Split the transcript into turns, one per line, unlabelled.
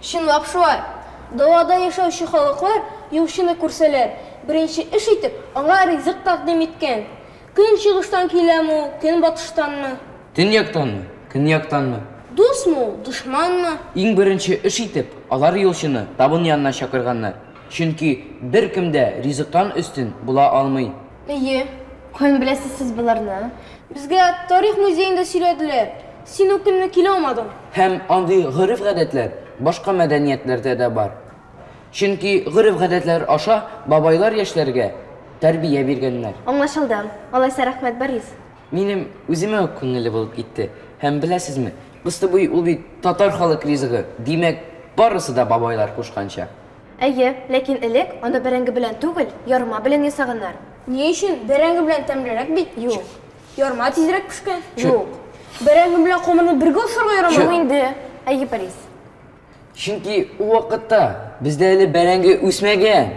Чынлап шулай.
Далада яшәүче халыклар юлчыны күрсәләр, беренче эш итеп, аңа ризык тәкъдим иткән. Көнчыгыштан киләме ул, көнбатыштанмы? Төньяктанмы,
көньяктанмы? Дусмы ул,
дошманмы? Иң беренче
эш итеп, алар юлчыны табын янына чакырганнар, чөнки беркем дә ризыктан өстен була алмый. Әйе,
каян беләсез
сез боларны? Безгә
тарих музеенда сөйләделәр. Син үк көнне килә алмадың. Һәм андый
гореф-гадәтләр башка мәдәниятләрдә дә бар. Чөнки гореф-гадәтләр аша бабайлар яшьләргә тәрбия биргәннәр. Аңлашылды.
Алайса рәхмәт, Борис. Минем
үземә үк күңелле булып китте. Һәм беләсезме, Кыстыбый ул бит татар халык ризыгы, димәк, барысы да бабайлар кушканча. Әйе,
ләкин элек аны бәрәңге белән түгел, ярма белән ясаганнар. Ни өчен?
Бәрәңге белән тәмлерәк бит. Юк. Ярма
тизрәк
пешкән. Юк.
Бәрәңге белән
камырны бергә ашарга ярамый. Юк инде. Әйе,
Борис. Чөнки
ул вакытта бездә әле
бәрәңге
үсмәгән.